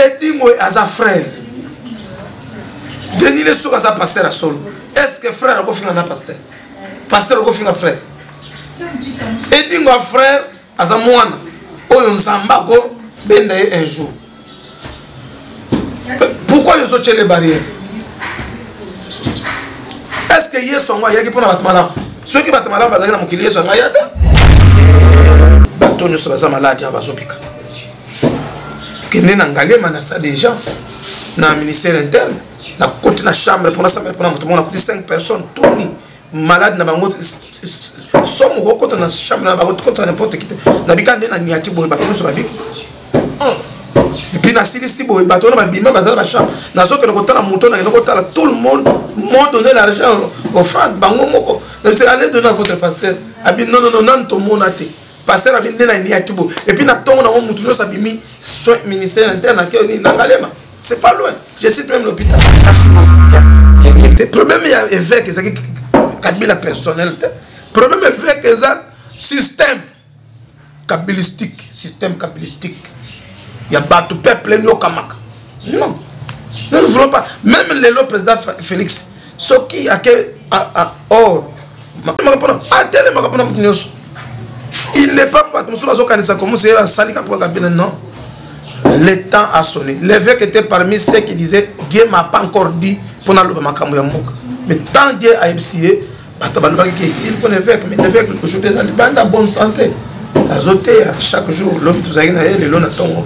edingo aza frère denis le soki aza pasteur ya solo est ce que frère akofinga na pasteur pasteur akofinga frère edingo ya frère aza mwana oyo nzambe akobenda ye un jour pourquoi yozo tiele barrière est ce que yesu yango ayaki mpo na bato malamu soki bato malamu bazalaki na mokili yesu yango ayata bato nyonso baza maladi awa bazobika kende na ngaliema na stade d'urgence na ministère interne nakoti na chambre mpona chambre mpona moto moko nakuti 5 personnes tuni malade na bango somo kokota na chambre na bango tokota n'importe kite nabika nde na niati boye bato nyonso babiki epuis nasilisi boye bato wana babima baza na bachambre nazokende kotala moto nakende kotala tout le monde mont donné l'argent offrande bango moko nabisela ale donne à votre pasteur abi nonono nani tomona te pasteur abi nde na niaki bo et puis na tongo na ngo mutu nyoso abimi soin ministère interne akeo nini na ngalema c'est pas loin je cite même l'hôpital merci beaucoup te problème ya évêque ezaki kabila personnel te problème évêque eza système kabilistique système kabilistique ya bato peuple enyokamaka non nous ne voulons pas même lelo président félix soki ake or matelemaka mpona atelemaka mpona moto nyonso il n'est pas bato mosusu bazokanisa komuse asali kapoka kabila non le temps a sonné l'évêque était parmi ceux qui disaient dieu m'a pas encore dit mpo naloba makambo ya mboka mais tant dieu ayebisi ye bato balobaki ke esili mpo na évêque mais évêque aujourd'hui eza libanda bonne santé azoteya chaque jour lobi tozalaki na ye lelo na ntongo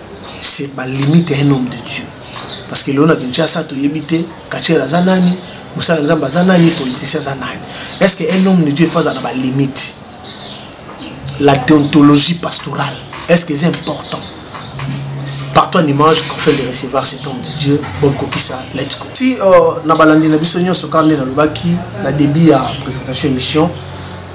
c'est ba limite un homme de Dieu parce que lelo na Kinshasa toyebi te kachera aza nani mosala nzambe aza nani politicien aza nani est ce que un homme de Dieu faut azala na ba limite la déontologie pastorale est ce que c'est important par toi image afin de recevoir cet homme de Dieu Bob Kokisa let's go si euh, na balandi na biso nyonso kaka nde nalobaki na début ya présentation émission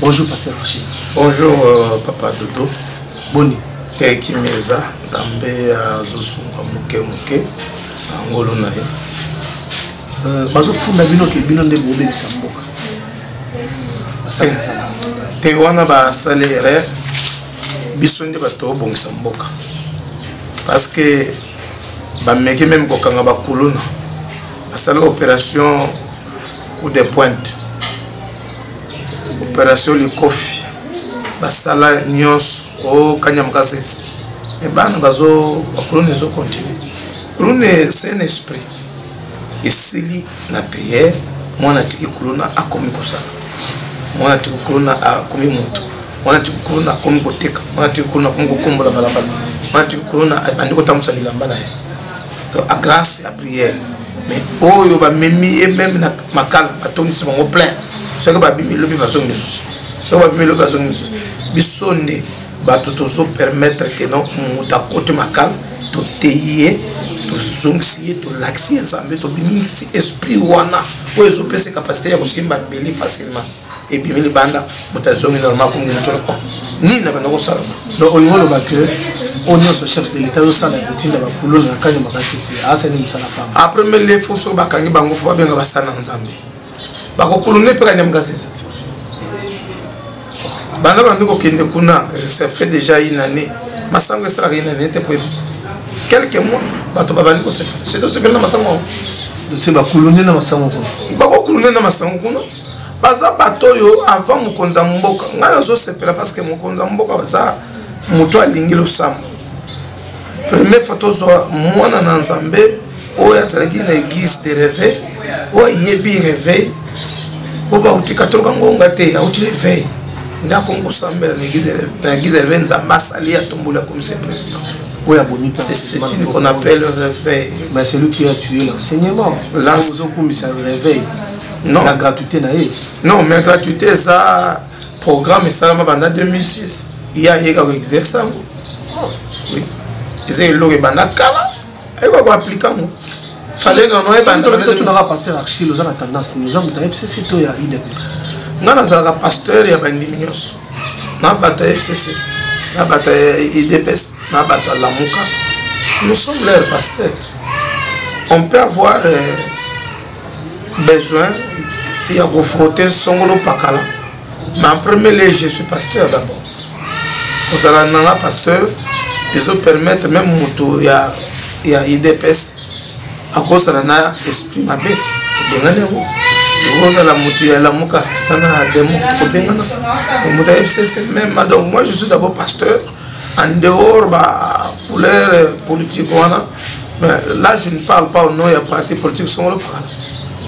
bonjour pasteur rocher bonjour euh, papa dodo boni te kimi eza nzambe azosunga moke moke na ngolo na ye euh, bazofunda bino ke bino nde bobebisa mboka te wana basali erreur biso nde bato obongisa mboka parce que bameki meme kokanga bakuluna basala opération coup de pointe opération likofi basala nyonso o kanyama kasese me bana bazo bakoloni ezo continue kuluna saint esprit esili na prière mwana atiki kuluna akomi kosala mwana atiki kuluna akomi moto mwana atiki kuluna akomi koteka mwana atiki kuluna akomi kokombola balabala mwana atiki kuluna abandi kotambwisa bilamba na ye a grâce ya prière mais oyo bamemi ye meme na makala batondisi bango plein soki babimi lobi bazongi lisusu soki babimi lobi bazongi lisusu biso nde bato tozopermettre ke no moto akoti makala toteyi ye tozongisi ye tolakisi ye nzambe tobimisi esprit wana oyo ezopesa capacité ya kosimba mbeli facilement ebimi libanda moto azongi normal kongi moto loko nini na banda kosala donc olingi oloba ke oyo nyonso chef de l'état azosala ya kotinda bakuluna na kani makasisi asali mosala pamba après mbe nde fo soki bakangi bango fo babenga basala na nzambe bakokuluna epe kani ya makasisi te banda bandi kokende kuna ça fait déjà une année masango esalaka une année te po quelques mois bato babandi kosepela surtout sepela na masango yango bakulune na masango kuna bakokulune na masango kuna baza bato oyo avant mokonzi ya mboka ngai nazosepela parce que mokonzi ya mboka baza moto alingi losambo premier fois tozwa mwana na nzambe oyo azalaki na église de réveil oyo ayebi réveil oyo bauti katoloka ngonga te auti réveil nde akomi kosambela na église de réveil nzambe asali atombola comisi président oyo abomi c'est ce qu'on appelle réveil mais celui qui a tué l'enseignement l'enseignement réveil non. na gratuité na ye non mais gratuité eza programme esalama banda 2006 ye ayeka koexerce yango oui. eza eloko ebanda kala ayeka koaplike yango tunaka pasteur archil oza na tendance nini oza moto ya fcc to ya udps ngai nazalaka pasteur ya bandimi nyonso na bato ya fcc na bato ya udps na bato ya lamuka nous sommes leur pasteur on peut avoir euh, besoin ya kofrote songolo pakala mais en premier lieu je suis pasteur d'abord kozala nanga pasteur ezopermettre meme moto ya, ya idps akosala na esprit mabe ebengani yango okozala moto ya lamuka sana demo kobengana moto ya fcc meme donc moi je suis d'abord pasteur en dehors ba couleur euh, politique wana mais là je ne parle pas au nom ya parti politique songolo pakala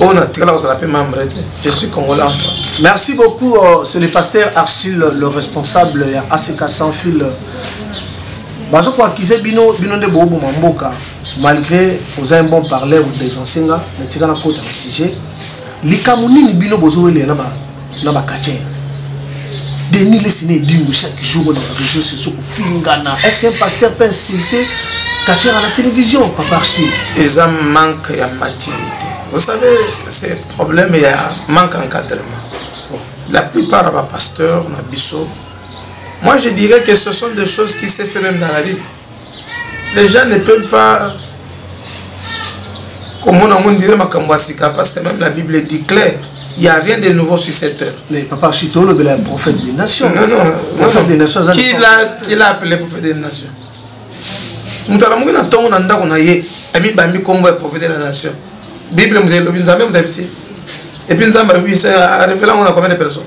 oyo natikala kozala mpe membre te je suis congolais en soi merci beaucoup euh, c'est le pasteur archil le responsable ya ack sans fil bazokoakize bino bino nde booboma mboka malgré oza un bon parleur odevanse nga natika nakota na sujet likambo nini bino bozowelela na ba na ba catcheur denis lesina edingo chaque jour na réseau sociaux kofingana est ce qu'un pasteur peut insulter catcheur à la télévision papa archie eza manque ya maturité vous savez c'est problème ya manque encadrement la plupart ya bapasteur na biso moi je dirais que ce sont des choses qui s'est fait même dans la bible les gens ne peuvent pas komona yango ndire makambo ya sika parce que même la bible dit clair il n'y a rien de nouveau sur cette terre. Mais papa Chito, le bel prophète des nations. Non, non, prophète non. des nations. Qui l'a, qui l'a appelé prophète des nations moto alamuki na ntongo na ndako na ye amibambi nkombo ya prophète de la nation bible moto elobi nzambe moto abisi epuis nzambe abibisa arevela yango na combien de personnes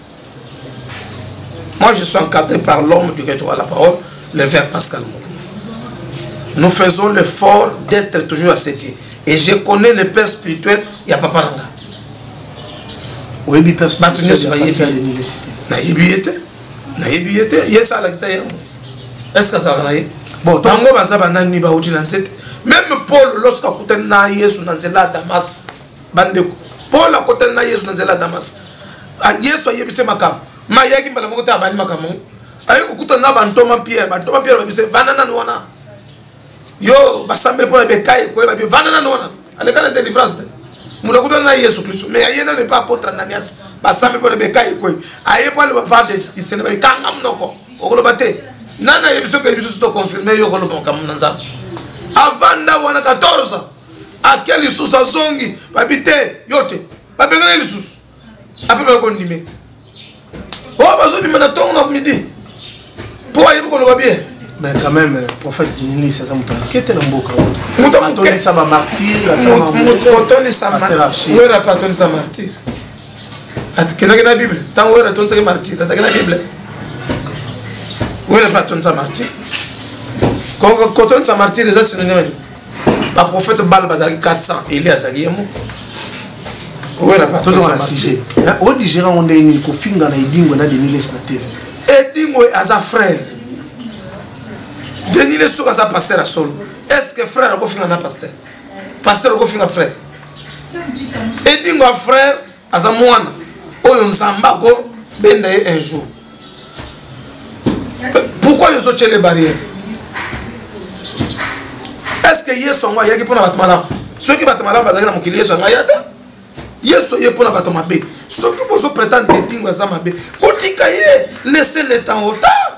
Moi, je suis encadré par l'homme du retour à la parole, le verre Pascal Moukou. Nous faisons l'effort d'être toujours à ses pieds. Et je connais le père spirituel, il n'y a pas parlé. Oui, mais père spirituel, il n'y a pas parlé. nayebi ye te nayebi ye te ye esi alakisa ye yango eske azalaka na ye bango baza banani bauti na nse te meme paul lorsque akutani na yesu na nzela ya damas bandeko paul akotani na yesu na nzela ya damas ah, yesu ayebise makambo ma ayaki mbala moko te abandi makambo yango aye kokutana na bantoma pierre bantoma pierre babise vanda nanu wana yo basambeli mpo na bekai koyeba bi vanda nanu wana aleka na delivrance te moto akutana na yesu kristo mais aye nanu epa apotre ananias basambeli mpo na bekai koyi aye mpo aloba par desisene babi kanga monoko okoloba te nani ayebi soki oyebi susu toconfirme yo okoloba makambo na nzambe avanda wana 14 ake lisusu azongi babi te yo te babengana lisusu ape bakondime o oh, bazobima na ntongo na midi mpo ayebi koloba bien mais quand même euh, prophète dinilisi aza moto moke te na mboka otondisa bamartirwera mpe atondisa martire akendaki na bible ntango wera atondisaki martire azalaki na bible wera mpe atondisa martire kotondisa martire eza sinonime baprofete bala bazalaki 400 eli azali ye moko tozonga na sujet odigere yango ndenge nini kofinga na edingwe na denilesi na tv edingwe aza frère denilesi soki aza paster ya solo est ce que frère akofinga na paster paster okofinga frère edingwe ya frère aza mwana oyo nzambe akobenda ye un jour pourquoi yo ozotyele barrière est ce que yesu yango ayaki mpo na bato malamu soki bato malamu bazalaki na mokili yesu yango aya te yesu ye mpo na bato mabe soki bozo pretendre ke pingo aza mabe botika ye laisse le temps au temps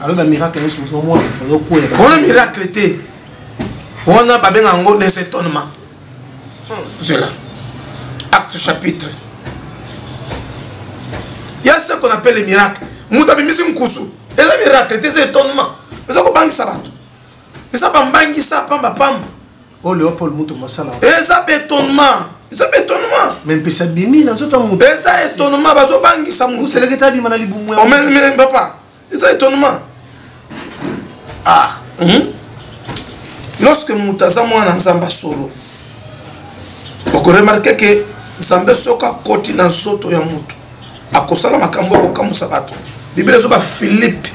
alors ba miracle nyonso mosusu omona ozokwea wana miracle te wana babenga yango les étonnement zela acte chapitre ya ce qu'on appelle les miracles moto abimisi nkusu eza miracle te eza étonnement eza kobangisa bato eza bambangisa pamba pamba oyo oh, leopold moto masala eza bétonnement eza bétonnement me mpesa bimi na nzoto ya moto eza étonnement bazobangisa moto oseleketa abima na libumu papa eza étonnement ah hmm? lorsque moto aza mwana nzambe ya solo okoremarke ke nzambe soki akoti na nsoto ya moto akosala makambo ya kokamwisa bato biblia ezoba philippe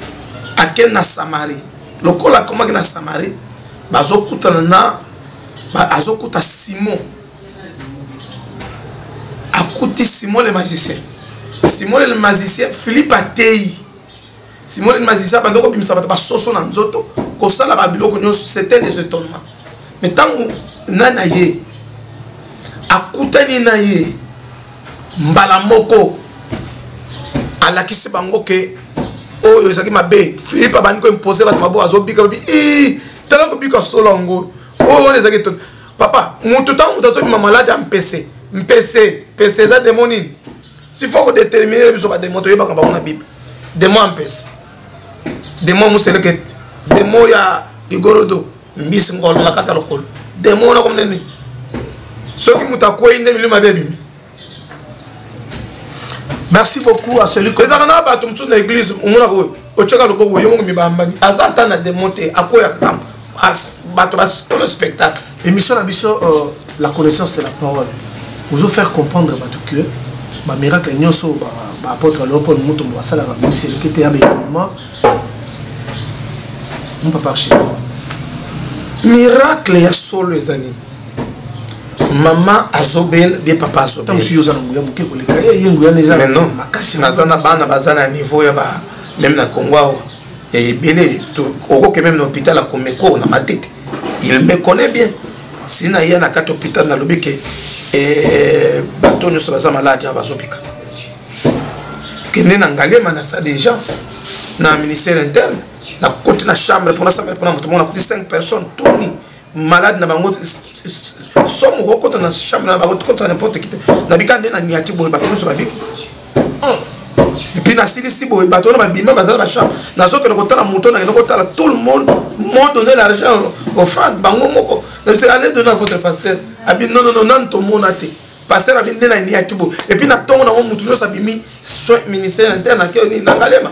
ake na samarie lokola akomaki na samarie bazokutana na azokuta simon akuti simon le magicien simon le magicien philippe ateyi simon le magicien abanda kobimisa bato basoso na nzoto kosala babiloko nyonso c'était les étonnement mais ntango na na ye akutani na ye mbala moko alakisi bango ke oyo ezalaki mabe philippe abandi koimpose bato mabo azobika babi tala kobika solo yango oyo wana ezalaki papa moto ntango moto azobima malade ya mpese mpese mpese eza demo nini sifo kodetermine biso bademo toyebaka bango na bible demo ya mpese demo ya moselekete demo ya ligorodo mbisi ngolo na kata lokolo demo wana komneni soki moto akwei nde milimo mabe ebimi merci beaucoup à celui que ezalaka na bato mosusu na église omonaka oyo otyaka lokobo yo moko mibambani aza ata na demon te akweyaka kamba bato basolo spectacle émission na biso euh, la connaissance de la parole ozo faire comprendre bato que bamiracle nyonso baapôtre leopold mutombo basalaka miseleke te ya baekonement mpapa archie miracle ya solo eza nini mama azobela bie papa azobelaoza na nguya moke koleka ye nguya makasi naza na bana baza na niveau ya ba meme na congo awa ya ebele okoke meme na hôpital ya komeko na matete il me connaît bien si na ye na kati hôpital nalobi ke eh, bato nyonso baza maladi awa bazobika kende na ngalema na stade d'urgence na ministère interne nakoti na chambre mpona chambre mpona moto moko nakuti 5 personnes tuni malade na bango somo kokota na chambre na bango kota n'importe qui te nabika nde na niati boye bato nyonso babiki epuis hmm. nasilisi boye bato wana babima baza na bachambre nazokende kotala moto nakende kotala tout le monde m'ont donné l'argent au fan bango moko nabise allez donner à votre pasteur abi non non non nanu tomona te pasteur abi nde na niati boye epuis na ntongo nango moto nyonso abimi soin ministère interne akeo nini nangalema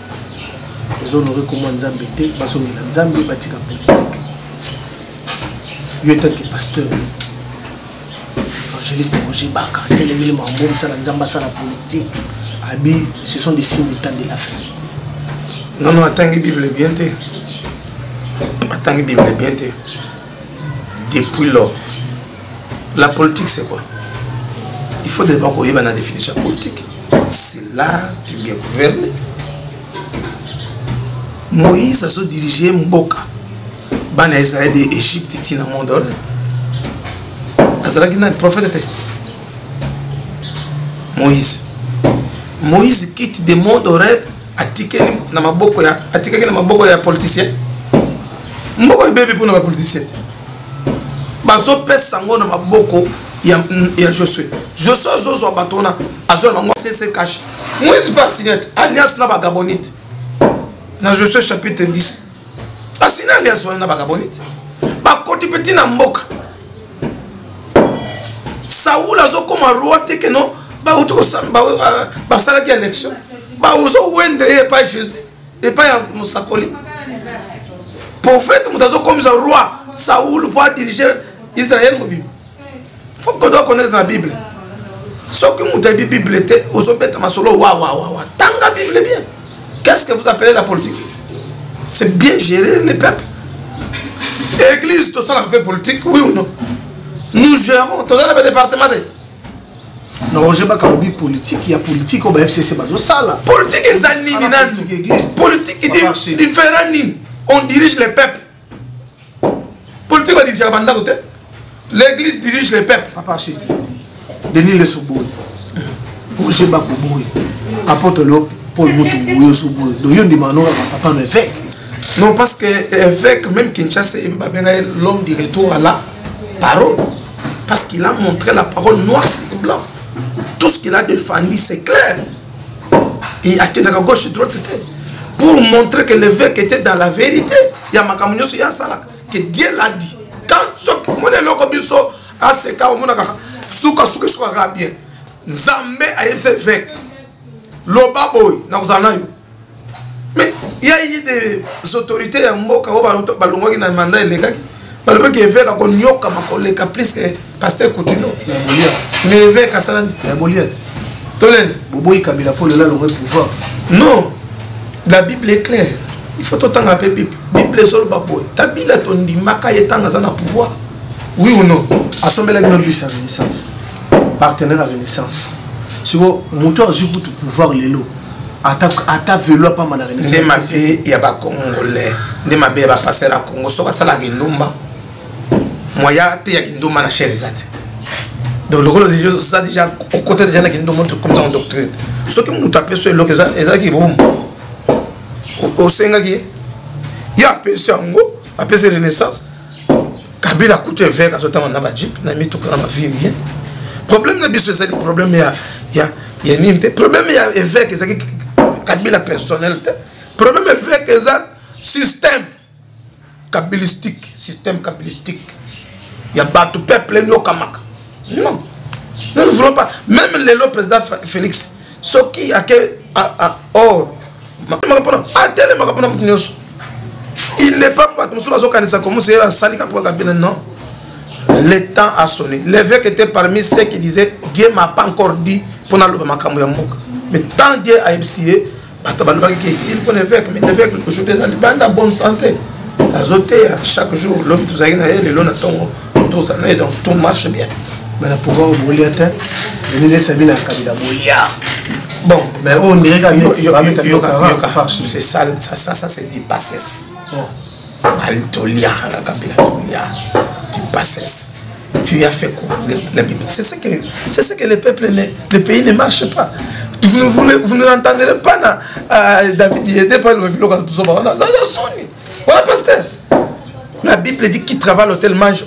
ezonore komwa nzambe te bazongela nzambe batika politike yo etanke pasteur évangéliste roger baka telemeli makambo mosala nzambe asala politike abi ce sont des signes de temps de la fin non non atangi bible bien te atangi bible bien te depuis lors la politique c'est quoi il faut d'abord koyeba na définition ya politique c'est là tu bien gouverne moïse azodirige mboka bana ya israel de égypte ti na monde wana azalaki nani prophète te moïse moïse quitte de monde oreb atikeli na maboko ya atikaki na maboko ya politicien mboka ebebi mpona bapoliticien te bazopesa yango na maboko ya, ya josue josue azozwa bato wana azwa na bango sese cash moise mpe asignate alliance na bagabonite na josue chapitre 10 asina alliance wana na bagabonite bakoti mpe ntina mboka saul azokoma roi te ke non bauti euh, basalaki élection baozowendre ye epai jésus epai ya mosakoli prophète moto azokomisa roi saul mpo adirige israel mobimba faut que doit connaître na bible soki moto ayebi bible te ozobeta masolo wawawawa tanga bible bien Qu'est-ce que vous appelez la politique C'est bien gérer les peuples. Église, tout ça, la paix politique, oui ou non Nous gérons, tout ça, le département. na roger bakalobi politike ya politike oyo ba fcc bazosala politike eza nini nanu politike différent nini on dirige les peuples politique badirigeaka bandako te l'église dirige les peuples papa archives denis lesoboyi roger bakoboyi apôtre leo paul mutumbu yo soboyi donc yo ndimaka no kaka papa no évêque non parce que évêque même kinshasa babenga ye l'homme du retour à la parole parce qu'il a montré la parole noire sur blanc tout ce qu'il a défendu c'est clair Et akendaka gauche droite te. Pour montrer que l'évêque était dans la vérité. Ya makambo nyoso ya salaka. Que Dieu l'a dit. Quand soki mona loko biso aseka omona kaka suka suka suka kaka bien. Nzambe ayebisa évêque. Loba boy na kozala nayo. mais il y a eu des autorités ya mboka oyo balongwaki na mandat elekaki balobaki eveke akonyokama koleka plus que pasteur coutuno mais eveke asalani toleni boboyi kabila mpo lelo alongwe pouvoir non la bible est claire il faut totanga mpe bible bible ezoloba boye kabila tondimaka ye ntango aza na pouvoir oui ou non asombelaki no bisa renaissance partenaire ya renaissance siko moto azwi kutu pouvoir lelo ata ata velo apamba na renaissance nde mabe ya ba congolais nde mabe ya ba passer ya congo soki asalaka endumba moya te ya kindumba na chaire eza te donc lokola oza déjà okota déjà na kindumba comme ça en doctrine soki moto apesi eloko ezalaki bomu osengaki ye ye apesi yango apesi renaissance kabila kutu eveke azotanga na bajipe na mituka na bavie bien problème na biso ezali problème ya, ya, ya nini te problème ya eveke ezali kabila personnel te problème eveke eza système kabilistique système kabilistique ya bato peuple enyokamaka non nous ne voulons pas même lelo président félix soki ake or matelemaka mpona atelemaka mpona moto nyonso il n'est pas bato mosusu bazokanisa komusi asali kapo kaka bino non le temps a sonné l'évêque était parmi ceux qui disaient dieu m'a pas encore dit mpo naloba makambo ya mboka mais tant dieu ayebisi ye bato balobaki ke esili mpo na évêque mais évêque aujourd'hui eza libanda bonne santé azoteya chaque jour lobi tozalaki na ye lelo na ntongo toza na ye donc tout marche bien mais na pouvoir obolia te elinesa bino ya kabila bolia bon mais oyo oh, ndireka c'est ça ça ça c'est du passes bali oh. toliaka na kabila tolia du passes tu as fait quoi la Bible c'est ce que c'est ce que les peuples ne, les pays ne marchent pas vous ne vous, vous ne entendrez pas na euh, David Yedé par le biloko ya buzoba wana zaza soni Voilà, pasteur. La Bible dit qui travaille à l'hôtel mange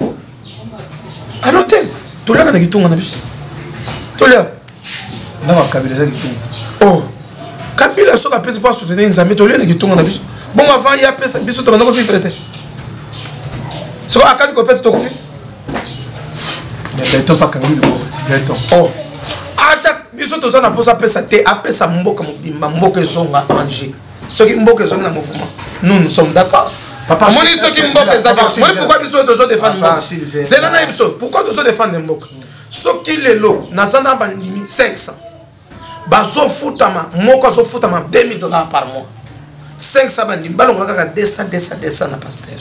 à l'hôtel. Tout là, on a dit tout, on a dit. Tout là. Non, on a dit tout. Oh. Kabila soki apesi mpo asoutenir nzambe toliona kitunga na biso bongo avant ye apesa biso tobanda kofifre te soki akati kopesa tokufi beton pakangi beton oh. ata biso toza na mposa apesa te apesa mboka mobimba mboka ezonga ange soki mboka ezongi na mouvement nous nous sommes d'accord Papa, moni soki mboka ezaki moni pourquoi biso tozo défendre mboka zela na biso pourquoi tozo défendre mboka soki lelo naza na bandimi 500 bazofutama moko azofutama 2000 dollars par mois 500 bandimi balongola kaka 200 200 200 na pasteur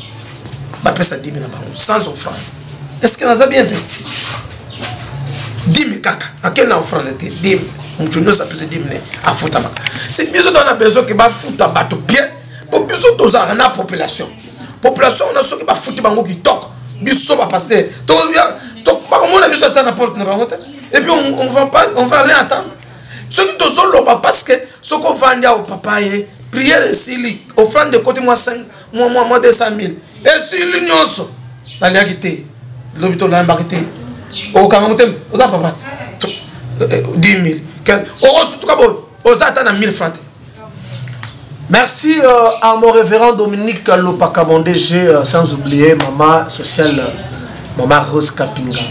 bapesa 10 na bango sans offrande est-ce que naza bien te dime kaka ake na ofrande te dime moto nyonso apesi dime ne afutama si biso toza na besoin ke bafuta bato bien po biso tozalaka na population population wana soki bafuti bango kitoko biso bapaster bakomona biso ata na porte na bango te epuis on va pas on va rien attendre soki tozoloba parce que soki ovandi awo papa ye priere esili ofrande ekoti mwa 5 mwa mwa mwa 200000 esili nyonso naliaki te lobi tolayambaki te okokanga motema oza papa te 10000 okosutuka boye oza ata na 1000 franc te Merci euh, à mon révérend Dominique Lopaka, mon DG, euh, sans oublier maman sociale, euh, maman Rose Kapinga.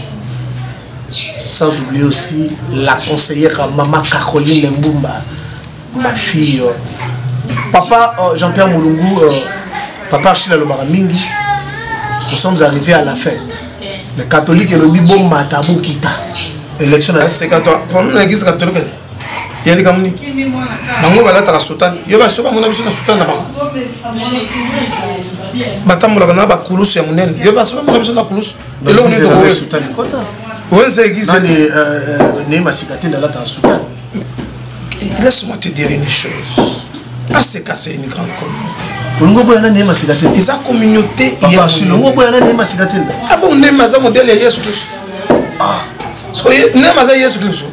Sans oublier aussi la conseillère maman Caroline Mbumba. ma fille euh, papa euh, jean pierre molungu euh, papa archile alobaka mingi nous sommes arrivés à la fin mais catholique elobi bomata bokita élection nasekatoamnagisi catholique ya likambo nini bango balataka sotane yo baso bamona biso na sotane na bango batambolaka na bakulusu ya monene yo baso bamona biso na kulusu eloko nini tokoyo wenze egize ne masika te nalataka sotane laisse-moi te dire une chose aseka c'est une grande communauté olingi oboya nani ye masika te eza communauté olingi oboya nani ye masika te abo ah nema aza modele ya yesu kristo ah. nema aza yesu kristo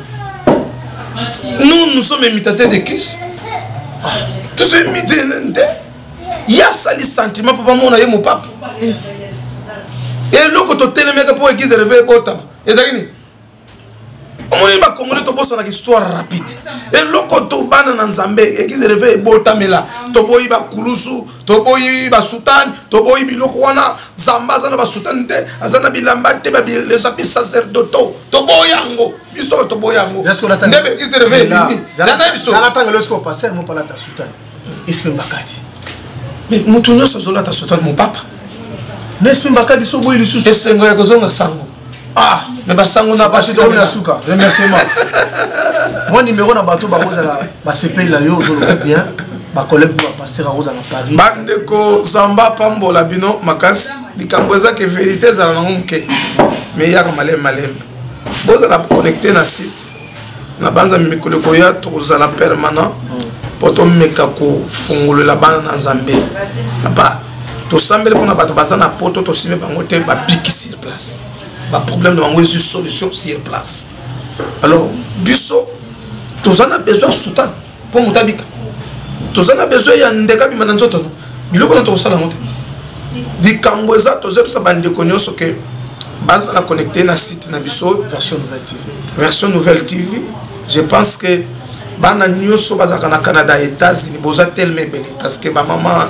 nous nous sommes imitateur de christ ah. tozo imite nani te ye asali sentiment mpo bamona ye mopapa eh. eloko totelemeka mpo eglise reve ebotama ezali nini omoneli bakongole tobosanaka histoire rapide eloko tobana na nzambe eglise reve ebotamela toboyi bakulusu toboyi basutane toboyi biloko wana nzambe aza na basutane te aza na bilamba te babilesapi sacerdoto toboyi yango biso toboyi yango nde eglise reve elimi zana biso espe mbakadi mais moto nyonso azolata sotal mopapa na espe mbakadi so boyi lisusu esengo ya kozonga sango ah mais basango na basi tomi na suka remerciement mwa nimero na bato bakozala basepeli na yo ozoloba bien bacollègue bo bapaster akozala na paris bandeko zamba apambola bino makasi likambo eza ke verité ezala nango moke mais eyaka malembe malembe bozala connecte na site na banza mikolo ekoya tokozala permanent mpo tomeka kofungolela bana na nzambe papa tosambeli mpona bato baza na poto tosimbi bango te babiki sur place baproblème na bango ezwi solution sur place alors biso toza na besoin ya soutane mpo moto abika toza na besoin ya ndeka bima na nzoto no biloko na tokosala yango te likambo eza tozebisa bandeko nyonso ke bazala connecte na site na biso version nouvelle tv version nouvelle tv je pense que bana nyonso bazalaka na canada états-unis boza telema ebele parce que bamama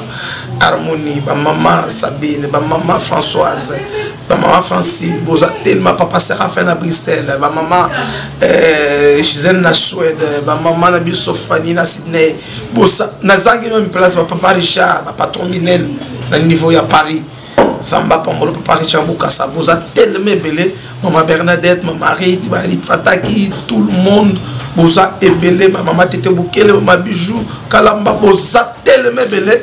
harmonie bamama sabine bamama françoise ba maman francine boza tellement papa serafin na bruxelles ba maman euh, gisele na suède ba maman na biso fani na sydney bosa nazangi no place ba papa richard ba patron minel na niveau ya paris samba pambolo papa richard bokasa boza tellement ebele mama bernadette mama rit barit fataki tout le monde boza ebele bamama tete bokele bama bijou kalamba boza tellement ebele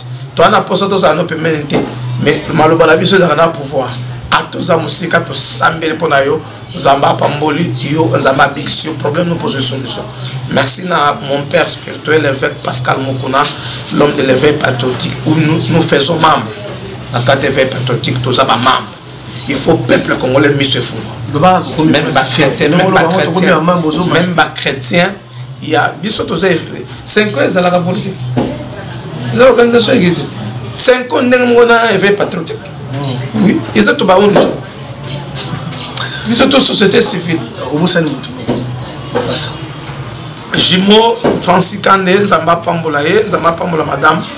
toza na mposa tozala no pembeni te mais maloba na biso ezalaka na pouvoir atoza mosika tosambeli mpo na yo nzambe apamboli yo nzambe abikisi yo problème no pozo solution merci na mon père spirituel évêque pascal mokuna l'homme de l'éveil patriotique où nous, nous faisons membre na kati éveil patriotique toza bamembre il faut peuple congolais miso efuma même bachrétien même bachrétien même bachrétien ya biso toza 5 ans ezalaka politique eza organisation existe 5 ans ndenge moko na éveil patriotique hmm. oui eza to ba ong biso to société civile obosani motu basa jimo francis kande nzambe apambola ye nzambe apambola madame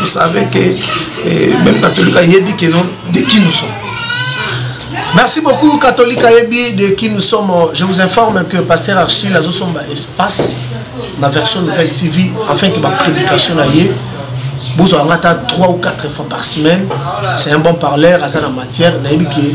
Vous savez que eh, même catholique ayebi que non de qui nous sommes. Merci beaucoup catholique ayebi de qui nous sommes. Je vous informe que pasteur Archil azo somba espace na version nouvelle TV afin que ma prédication na ye bozwa nga ata 3 ou 4 fois par semaine c'est un bon parleur aza na matière nayebi ke